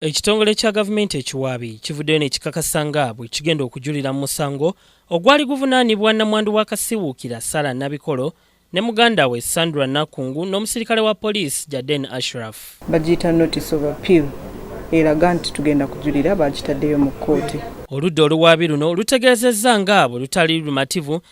Ekitongole kya gavumenti ekiwaabi kivuddeyo nekikakasa nga bwe kigenda okujulira mu musango ogwali guvunaanibwa nnamwandu wa Kasiwuukira Sarah Nabikolo ne muganda we Sandra Nakungu n'omusirikale wa poliisi Jaden Ashraf. Bagiyita notice of appeal eraga nti tugenda kujulira baakitaddeyo mu kkooti. Oludda oluwaabi luno lutegeezezza nga bwe lutali lumativu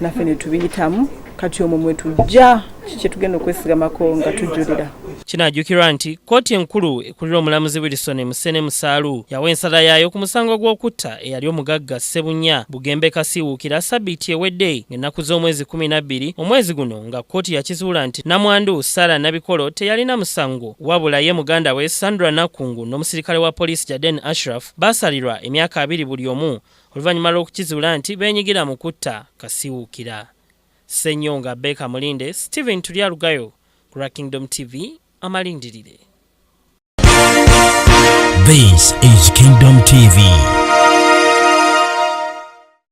naffe ne tubiyitamu kati omwo mwe tujja kye tugenda okwesigamako nga tujjulira kinajjukirwa nti kkooti enkulu ekulira omulamuzi wilson musene musaalu yawa ensala yaayo ku musango gw'okutta eyali omugagga sebunya bugembe kasiiwuukira sabiiti ewedde ng'ennaku z'omwezi 12 omwezi guno nga kkooti yakizuula nti namwandu sara nabikolo teyalina musango wabula ye muganda we sandra nakungu n'omusirikale wa poliisi jaden ashraf baasalirwa emyaka abiri buli omu oluvannyuma lw'okukizuula nti beenyigira mu kutta Kasiwuukira. Ssenyonga Baker Mulinde, Steven Turyarugayo ku lwa Kingdom TV amalindirire. This is Kingdom TV.